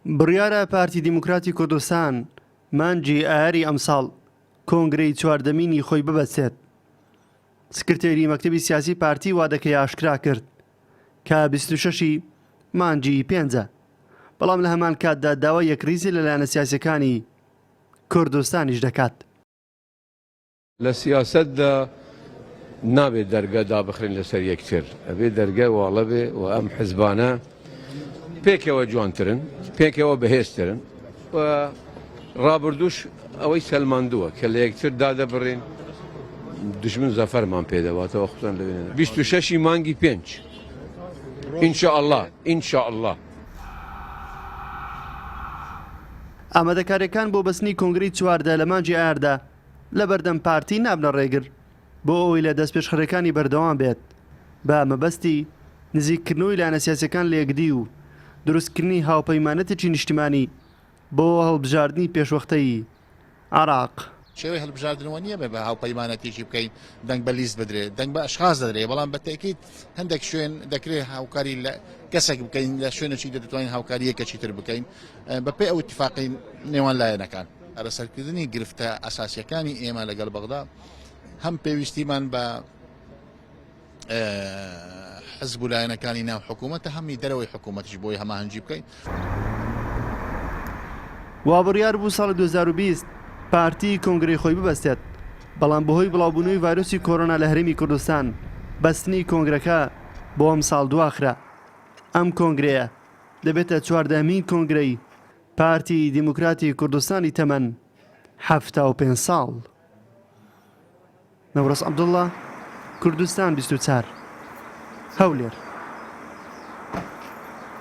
بڕیارە پارتی دیموکراتی کوردستان مانگی ئایاری ئەمساڵ کۆنگرەی چواردەمینی خۆی ببەسێت سکرتێری مەکتتەبی سیاسی پارتی وادەکەی ئاشکرا کرد کە 26 مانگی پێنجە بەڵام لە هەمان کاتدا داوا یەکریزی لەلایەنە سیاسەکانی کوردستانیش دەکات لە سیاسەتدا نابێت دەرگا دابخرێن لەسەر یەکتر ئەبێ دەرگای واڵە بێ و ئەم حزبانە پێکەوە جوانترن پێکەوە بەهێزترن و ڕابردوش ئەوەی سەلماندووە کە لە یەکتر دادەبڕین دژمن زەفەرمان پێدەواتەوە خۆتان لەوێن 26 مانگی پێنج ئینشاء الله ئینشاء الله ئامادەکارییەکان بۆ بەستنی کۆنگرەی چواردە لە مانگی ئایاردا، لە بەردەم پارتی نابنە ڕێگر بۆ ئەوەی لە دەستپێشخەریەکانی بەردەوام بێت بە مەبەستی نزیک کردنەوەی لایەنە سیاسیەکان لە یەکدی و دروست کردنی هاوپەیمانەتێکی نیشتیمانی بۆ هەڵبژاردنی پێشوەختەیی عێراق. شێوەی هەلبژاردنەوە نیە بەبێ هاوپەیمانەتێکی بکەین، دەنگ بە لیست بدرێت، دەنگ بە ئەشخاس دەدرێت، بەڵام بە تەئکید هەندێک شوێن دەکرێت هاوکاری لە کەسێک بکەین، لە شوێنێکی دە دەتوانین هاوکاری یەکێکی تر بکەین بە پێ ئەو ئیتفاقی نێوان لایەنەکان. ئەرەسەرکردنی گرفتە ئەساسیەکانی ئێمە لەگەڵ بەغدا هەم پێویستیمان بە حزب و لایەنەکانی ناو حکوومەتە هەمی دەرەوەی حکوومەتیش بۆی هەماهەنگی بکەین. وابڕیار بوو ساڵی 2020 پارتی کۆنگرەی خۆی ببەستێت، بەڵام بەهۆی بڵاوبوونەوەی ڤایرۆسی کۆرۆنا لە هەرێمی کوردستان بەستنی کۆنگرەکە بۆ ئەمساڵ دواخرا. ئەم کۆنگرەیە دەبێتە چواردەهەمین کۆنگرەی پارتی دیموکراتی کوردستانی تەمەن حەفتا و پێنج ساڵ. نەورەس عەبدوڵا، کوردستان بیست و چار، هەولێر.